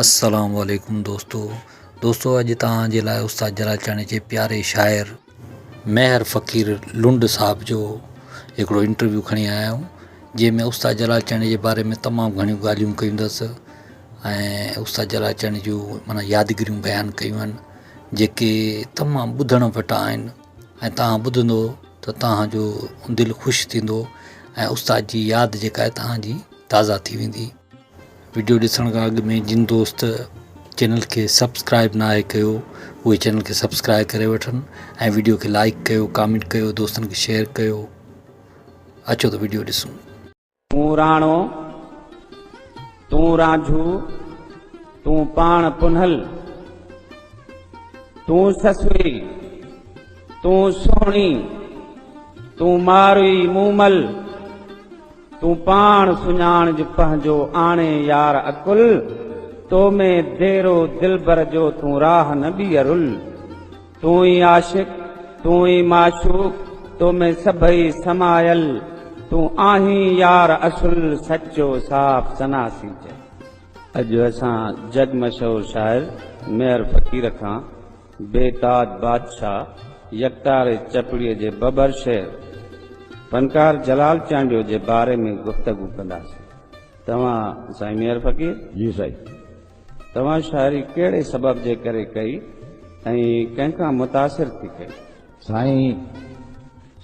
السلام عليڪم دوستو دوستو اڄ توهان جي لاء استاد جلالچاڻي جي پياري شاعر مهر فقير لنڊ صاحب جو هڪڙو انٽرويو کڻي آيا آهيون جنهن ۾ استاد جلالچاڻي جي باري ۾ تمام گهڻيون ڳالهيون ڪيون اٿس ۽ استاد جلالچاڻي جون معنيٰ يادگريون بيان ڪيون آهن جيڪي تمام ٻڌڻ وٽان آهن ۽ توهان ٻڌندو ته توهان جو دل خوش ٿيندو ۽ استاد جي ياد جيڪا آهي توهان جي تازا ٿي ويندي. وڊيو ڏسڻ کان اڳ ۾ جن دوست چينل کي سبسڪرائب ناهي ڪيو اهي چينل کي سبسڪرائب ڪري وٺن ۽ وڊيو کي لائيڪ ڪيو ڪامينٽ ڪيو دوستن کي شيئر ڪيو اچو ته وڊيو ڏسون. تون راڻو، تون رانجهو، تون پاڻ پنهل، تون سسئي، تون سهڻي، تون ماروئي مومل، تون پاڻ سڃاڻ جو پنهنجو آڻي يار اڪل، تو ۾ ديرو دلبر جو تون راهه نه ٻيئرل. تون ئي عاشق، تون ئي معشوق، تو ۾ سڀئي سمايل، تون آهين يار اصل، سچو صاف ثنا سين چئي. اڄ اسان جڳ مشهور شاعر ميهر فقير کان بي تاد بادشاهه يڪتار چپڙي جي ببر شعر فنڪار جلال چانڊيو جي باري ۾ گفتگو ڪنداسين توهان سائين ميهر فقير. جي سائين. توهان شاعري ڪهڙي سبب جي ڪري ڪئي ۽ ڪنهن کان متاثر ٿي ڪئي؟ سائين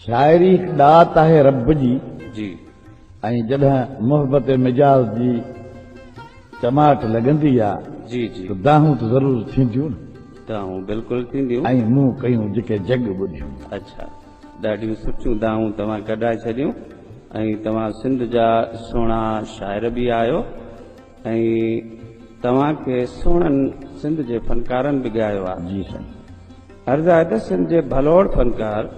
شاعري هڪ ڏات آهي رب جي جي. ۽ جڏهن محبت مجاز جي چماٽ لڳندي آ جي جي. ته دانهون ته ضرور ٿينديون نه. دانهون بلڪل ٿينديون. ۽ مون ڪيون جيڪي جڳ ٻڌيون. اڇا ڏاڍيون سٺيون دانهون توهان ڪڍائي ڇڏيون ۽ توهان سنڌ جا سهڻا شاعر به آهيو ۽ توهان کي سهڻن سنڌ جي فنڪارن به ڳايو آ. جي سائين عرض آهي ته سنڌ جي ڀلوڙ فنڪار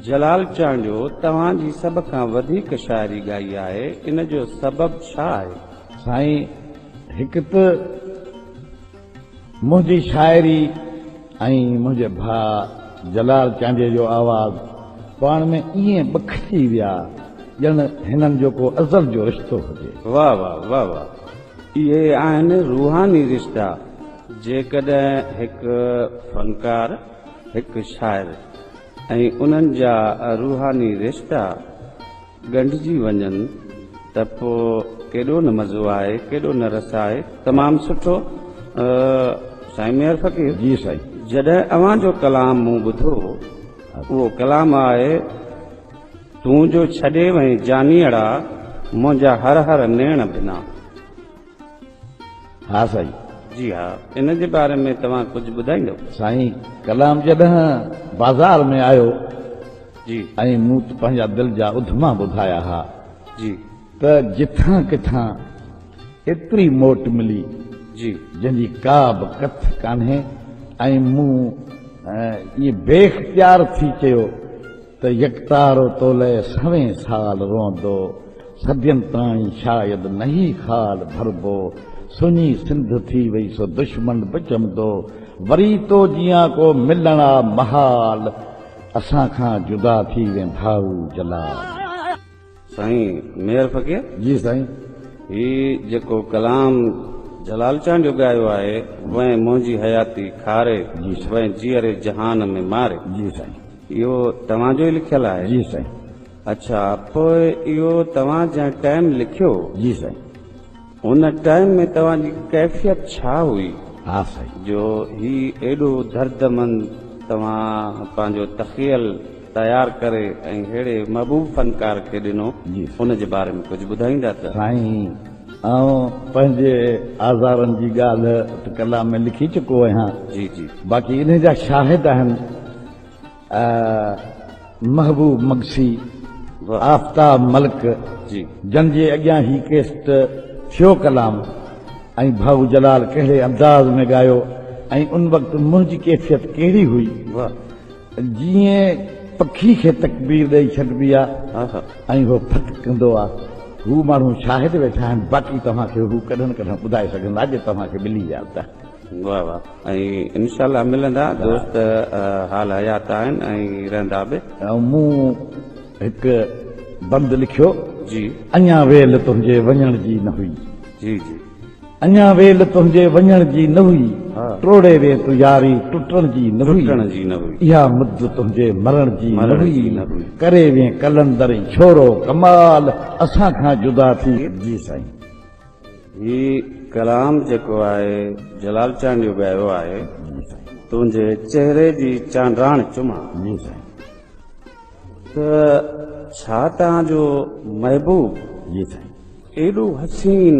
جلال چانڊيو توهان جي سڀ کان وڌيڪ شاعري ڳائي آهي ان جو سبب ڇا آهي؟ سائين هڪ ته منهنجي شاعري ۽ منهنجي ڀاء جلال چانڊيي جو آواز پاڻ ۾ ائين ٻکجي ويا ڄڻ هنن جو ڪو ازل جو رشتو هجي. واه واه واه واه اهي آهن روحاني رشتا جيڪڏهن هڪ فنڪار هڪ شاعر ۽ انهن جا روحاني رشتا. ڳنڍجي وڃن ته پوء ڪيڏو نه مزو آهي ڪيڏو نه رس آهي. تمام سٺو سائين ميهر فقير. جي سائين. جڏهن اوهان جو ڪلام مون ٻڌو اهو ڪلام آهي تون جو ڇڏي وئين جانيئڙا منهنجا هر هر نيڻ ڀنا. ها سائين. جي ها. ان جي باري ۾ توهان ڪجهه ٻڌائيندو؟ سائين ڪلام جڏهن بازار ۾ آيو جي. ۽ مون پنهنجا دل جا اڌما ٻڌايا ها جي. ته جٿان ڪٿان ايتري موٽ ملي جي. جنهن جي ڪا به ڪٿ ڪانهي ۽ مون ائين بي اختيار ٿي چيو ته يڪتارو تولئه سوين سال روئندو، صدين تاڻي شايد نه هي خال ڀربو، سڃي سنڌ ٿي وئي سو دشمن به چمدو، وري تو جيان ڪو ملڻ آ محال، اسان کان جدا ٿي وين ڀائو جلال. سائين مير فقير جي سائين هي جيڪو ڪلام جلال چان جو ڳايو آهي وئين منهنجي حياتي کاري وئين جيئري جهان ۾ ماري جي سائين اهو توهان جو ئي لکيل آهي جي سائين اڇا پوء اهو توهان جنهن ٽائيم لکيو جي سائين. ان ٽائيم ۾ توهان جي ڪيفيت ڇا هئي جو هي ايڏو دردمند توهان پنهنجو تخيل تيار ڪري ۽ ههڙي محبوب فنڪار کي ڏنو ان جي باري ۾ ڪجهه ٻڌائيندا ته. سائين آئون پنهنجي آزارن جي ڳالهه ته ڪلام ۾ لکي چڪو آهيان باقي انهي جا شاهد آهن. محبوب مگسي، آفتاب ملڪ جن جي اڳيان هي ڪيسٽ ٿيو ڪلام ۽ ڀائو جلال ڪهڙي انداز ۾ ڳايو ۽ ان وقت منهنجي ڪيفيت ڪهڙي هئي جيئن پکي کي تڪبير ڏئي ڇڏبي آ ۽ هو ڦٽ ڪندو آ هو ماڻهو شاهد ويٺا آهن باقي توهان کي هو ڪڏهن نه ڪڏهن ٻڌائي سگهندا جي توهان کي ملي ويا ته. واھ واھ ۽ انشاء الله ملندا دوست حال حيات آهن ۽ رهندا به. مون هڪ بند لکيو. جي. اڃان ويل تنهنجي وڃڻ جي نه هئي. جي جي. اڃان ويل تنهنجي وڃڻ جي نه هئي. ها. ٽوڙي وين تون ياري ٽٽڻ جي نه هئي. ٽٽڻ جي نه هئي. اها مد تنهنجي مرڻ جي نه هئي. مرڻ جي نه هئي. ڪري وين قلندر ڇورو ڪمال اسان کان جدا ٿي. جي سائين. هي ڪلام جيڪو آهي جلال چانڊيو ڳايو آهي تنهنجي چهري جي چانڊراڻ چمان ته ڇا توهان جو محبوب ايڏو حسين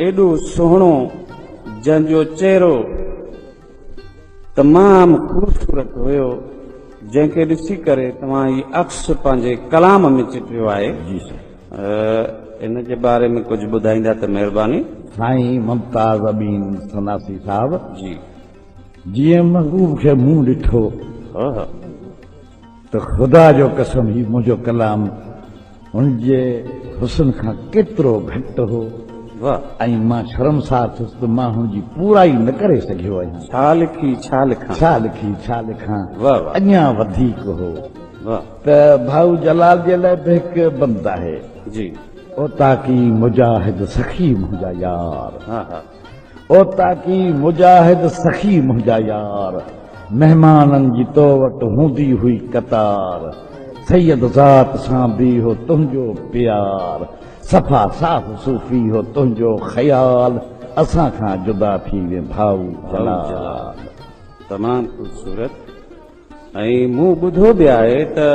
ايڏو سهڻو جنهن جو چهرو تمام خوبصورت هيو جنهن کي ڏسي ڪري توهان هي عڪس پنهنجي ڪلام ۾ چٽيو آهي جي سائين ان جي باري ۾ ڪجهه ٻڌائيندا ته مهرباني. سائين ممتاز امين سناسي صاحب جي جيئن محبوب کي مون ڏٺو. ته خدا جو قسم هي منهنجو ڪلام هن جي حسن کان ڪيترو گهٽ هو ۽ مان شرمسار ٿيس ته مان هن جي پورائي نه ڪري سگهيو آهيان. ڇا لکي ڇا لکان. ڇا لکي ڇا لکان اڃا وڌيڪ هو ته ڀائو جلال جي لاء به هڪ بند آهي. جي. اوطاقي مجاهد سخي منهنجا يار. اوطاقي مجاهد سخي منهنجا يار، مهمانن جي تو وٽ هوندي هئي قطار، سيد ذات سان به هو تنهنجو پيار، صفا صاف صوفي هو تنهنجو خيال، اسان کان جدا ٿي وين ڀائو جلال. تمام خوبصورت. ۽ مون ٻڌو به آهي ته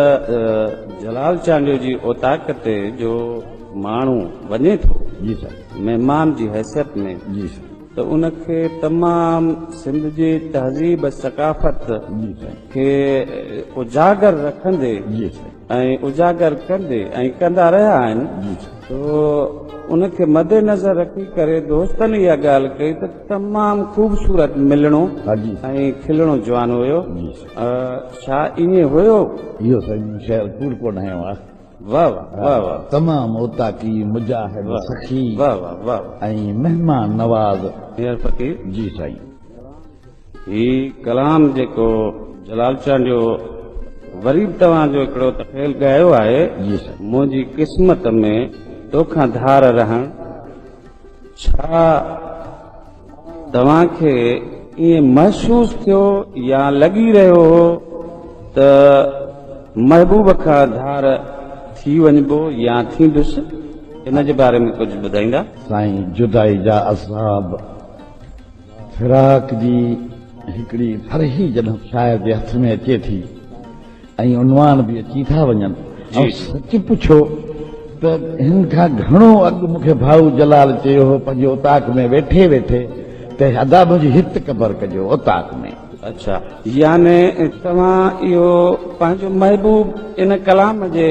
جلال چانڊيو جي اوطاق تي جو ماڻهو وڃي ٿو مهمان جي حيثيت ۾ ته ان کي تمام سنڌ جي تهذيب ثقافت کي اجاگر رکندي ۽ اجاگر ڪندي ۽ ڪندا رهيا آهن سو ان کي مد نظر رکي ڪري دوستن اها ڳالهه ڪئي ته تمام خوبصورت ملڻو ۽ کلڻو جوان هيو ڇا ائين هيو؟ اهو سائين مون شعر ڪوڙ ڪونه هنيو آهي. واهه واهه واهه واهه. تمام اوطاقي مجاهد سخي ۽ مهمان نواز. مير فقير. جي سائين. هي ڪلام جيڪو جلال چانڊيو وري به توهان جو هڪڙو تخيل ڳايو آهي جي سر منهنجي قسمت ۾ توکان ڌار رهڻ ڇا توهان کي ائين محسوس ٿيو يا لڳي رهيو هو ته محبوب کان ڌار ٿي وڃبو يا ٿيندس ان جي باري ۾ ڪجهه ٻڌائيندا. سائين جدائي جا عذاب. فراق جي هڪڙي ڦرهي جڏهن شاعر جي هٿ ۾ اچي ٿي ۽ عنوان به اچي ٿا وڃن ۽ سچ پڇو ته هن کان گهڻو اڳ مون کي ڀائو جلال چيو هو پنهنجي اوطاق ۾ ويٺي ويٺي ته ادا منهنجي هت قبر ڪجو اوطاق ۾. اڇا يعني توهان اهو پنهنجو محبوب ان ڪلام جي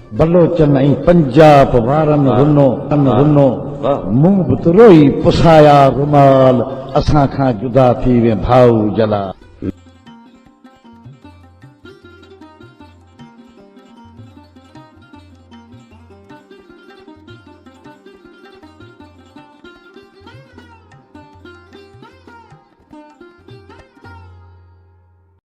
بلوچن ۽ پنجاب وارن رنو رنو مون به ته روئي پسايا رومال اسان کان جدا ٿي وين ڀائو جلال.